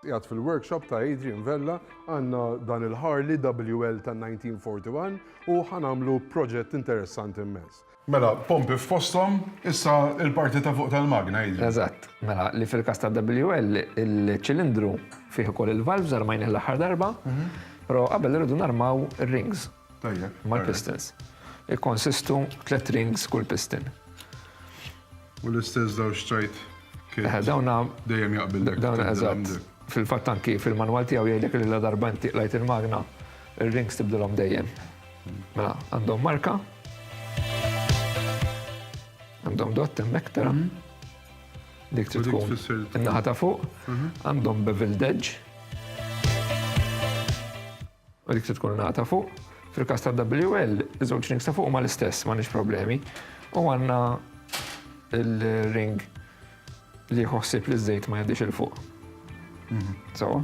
Qiegħed fil-workshop ta' Adrian Vella għandna dan il-Harley WL ta' 1941 u ħa nagħmlu proġett interessanti immens. Mela, pompi f'posthom, issa l-parti ta' fuq tal-magna, Adrian. Eżatt. Mela, li fil-każ ta' WL, il-ċilindru fih ukoll il-valves, armajnih l-aħħar darba, però qabel irridu narmaw ir-rings. mal-pistons. Ikkonsistu tliet rings kull piston. U l-istess dawn xtrajt dejjem jaqbillek. Dawn eżatt. Fil-fatt anki fil-manwal tiegħu jgħidlek li la darba inti qlajt il-magna, ir-rings tibdilhom dejjem. Mela, għandhom marka. Għandhom dott hemmhekk tara. Dik trid tkun in-naħa ta' fuq. Għandhom beveled edge. U dik trid tkun ingħata fuq. Fil-każ tad-WL, iż-żewġ rings ta' fuq huma l-istess, m'għandniex problemi. U għandna l-ring li jieħu ħsieb li ż-żejt ma jgħaddix 'il fuq. Sewwa?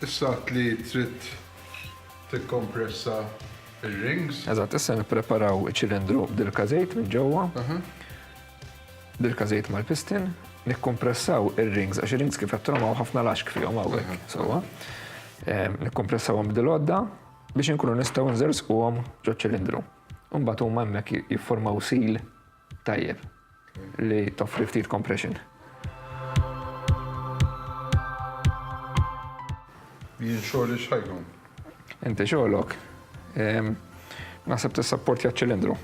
Issa għad li trid tikkompressa r-rings. Eżatt, issa nippreparaw iċ-ċilindru b'dilka żejt minn ġewwa. Dilka żejt mal-pistin, nikkompressaw ir-rings għax ir-rings kif qed hawn ħafna laxk fihom hawnhekk sewwa. Nikkompressawhom b'dil-għodda biex inkunu nistgħu nżerżquhom ġoċ-ċilindru. Imbagħad huma hemmhekk jifformaw seal. Tajjeb li toffri ftit compression. Jien xogħli x'ħajkun? Inti xogħlok. Naħseb tissapportja ċ-ċilindru.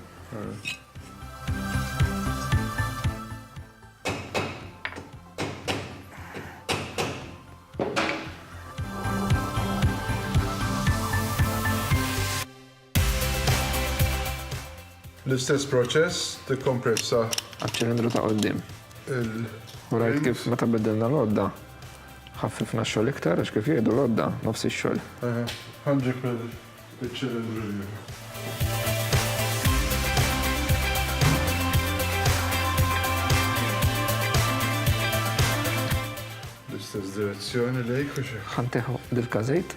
L-istess proċess tikkompressa. Għaċ-ċilindru ta' quddiem. Il. U rajt kif meta biddilna l-għodda ħaffifna x-xogħol iktar għax kif jgħidu l-għodda nofs ix-xogħol. Eħe, ħanġib il-ċilindru l-ieħor. L-istess direzzjoni lejk u xi. Ħanteħħu dil-każejt.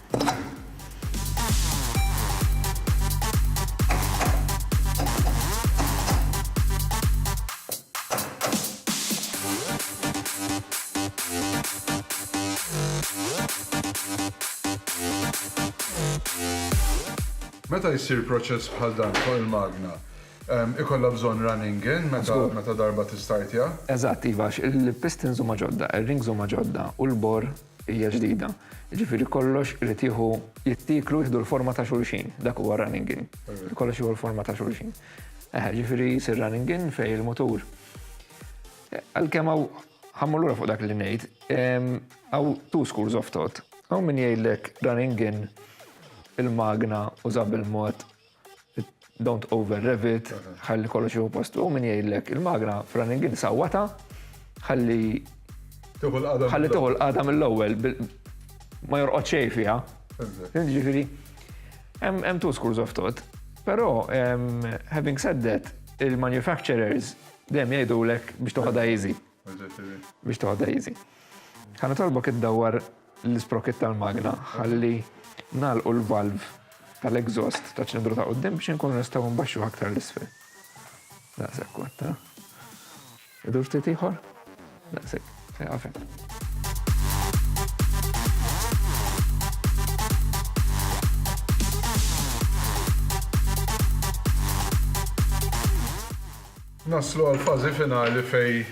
Meta jsir proċess bħal dan fuq il-magna, ehm, ikollha bżonn running in meta darba tistartja? Eżatt, iva, il-pistons huma ġodda, il-rings huma ġodda u l-bor hija ġdida, jiġifieri kollox irid jieħu, jittieklu jieħdu l-forma ta' xulxin, dak huwa running in. Kollox jieħu l-forma ta' xulxin. Eħe, jiġifieri jsir running in fejn il-mutur. Għalkemm hawn ħammur lura fuq dak li ngħid, hawn two schools of thought. Hawn min jgħidlek running in il-magna uża bil-mod Don't over rev it, ħalli kollox jieħu postu, u min jgħidlek il-magra f'running in sawwata, ħalli ħalli tieħu l-qada mill-ewwel ma jorqod xejn fiha. Ġifieri, hemm two schools of thought. Però, having said that, il-manufacturers dejjem jgħidulek biex toħodha easy. Biex toħodha easy. Ħa nitolbok iddawwar l-isprocket tal-magna ħalli nagħlqu l-valve tal-exhaust ta' ċilindru ta' qudiem biex inkunu nistgħu nbaxxu aktar l-isfel. Daqshekk kont, ha? Idur ftit ieħor? Daqshekk, se għafem. Naslu għal fażi finali fejn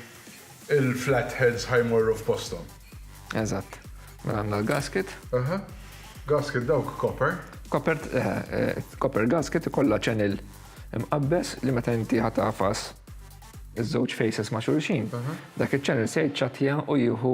il-flatheads ħa jmorru f'posthom. Eżatt. Mela għandna l-gasket. Aha. Gasket dawk copper. Copper, copper gasket ikollha channel imqabbes li meta inti ħa tagħfas iż-żewġ faces ma' xulxin, dak iċ-channel se jiċċattja u jieħu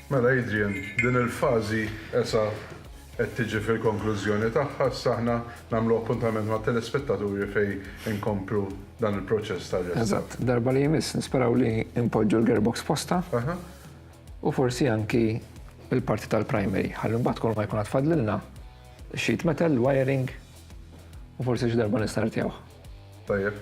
Mela Adrian, din il-fażi esa' qed tiġi fil-konklużjoni tagħha, issa aħna nagħmlu appuntament mat-telespettaturi fejn inkomplu dan il-proċess ta' restawr. Eżatt, darba li jmiss nisperaw li npoġġu l-gearbox postha u forsi anki l-parti tal-primary, ħalli mbagħad kolma jkun għad fadlilna, sheet metal, il-wiring u forsi xi darba nistartjawh. Tajjeb.